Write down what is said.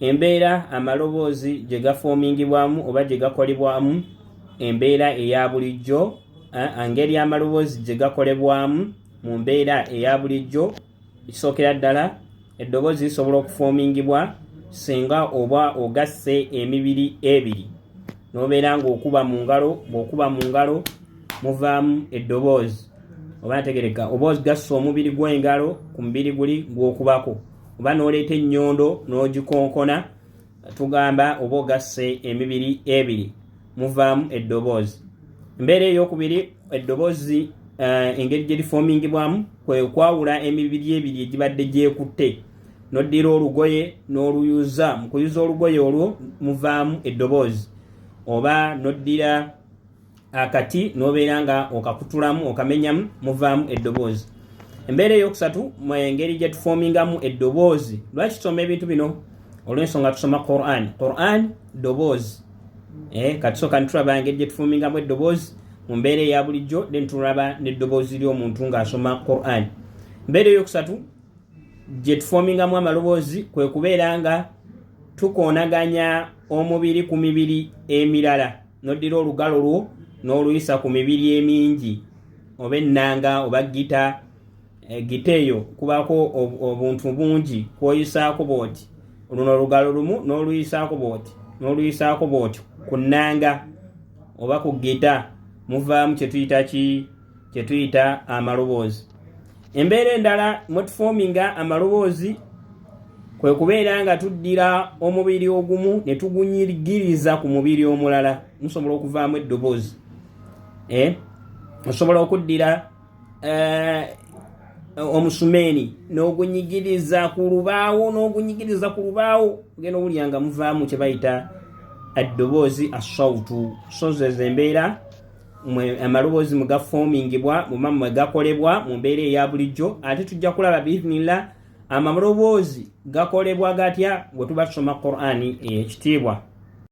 Embeera amaloboozi gye gafoomingibwamu oba gye gakolebwamu, embeera eya bulijjo, engeri amaloboozi gye gakolebwamu mu mbeera eya bulijjo. Ekisookera ddala, eddoboozi lisobola okufoomingibwa singa oba ogasse emibiri ebiri n'obeera ng'okuba mu ngalo, ng'okuba mu ngalo muvaamu eddoboozi oba ntegereka, oba ogassa omubiri gw'engalo ku mubiri guli gw'okubako. oba n'oleeta ennyondo n'ogikonkona tugamba oba ogasse emibiri ebiri muvaamu eddoboozi embeera eyokubiri eddoboozi eh, engeri gye lifoomingibwamu kwe kwawula emibiri ebiri egibadde gyekutte noddira olugoye n'oluyuza mu kuyuza olugoye olwo muvaamu eddoboozi oba noddira akati nobeera nga okakutulamu okamenyamu muvaamu eddoboozi embeera eyokusatu engeri gyetufoomingamu eddoboozi lwaki tusoma ebintu bino olwensonga tusoma quran quran ddoboozi eh, katisoka nitulaba engeri gyetufoomingamu eddoboozi mu mbeera eya bulijjo then tulaba neddoboozi ly'omuntu ng'asoma quran embeera eyokusatu gyetufoomingamu amaloboozi kwe kubeera nga tukoonaganya omubiri ku mibiri emirala noddira olugalo lwo n'oluyisa ku mibiri emingi oba ennanga oba gita eh, gita eyo kubako obuntu bungi kwoyisaako bwoti luno olugalo lumu n'oluyisaako bwoti n'oluyisaako bwoti ku nnanga oba ku gita muvaamu kyetuyita ki kye tuyita amaloboozi embeera endala mwetufominga amaloboozi kwe kubeera nga tuddira omubiri ogumu ne tugunyigiriza ku mubiri omulala musobola okuvaamu eddoboozi eh? osobola okuddira eh, omusumeeni n'ogunyigiriza ku lubaawo n'ogunyigiriza ku lubaawo ogenda owulira nga muvaamu kye bayita eddoboozi asautu sozezo embeera amaloboozi mwe gafoomingibwa muba mwe gakolebwa mu mbeera eya bulijjo ate tujja kulaba biiznillah amaloboozi gakolebwa gatya bwe tuba tusoma qurani eyekitiibwa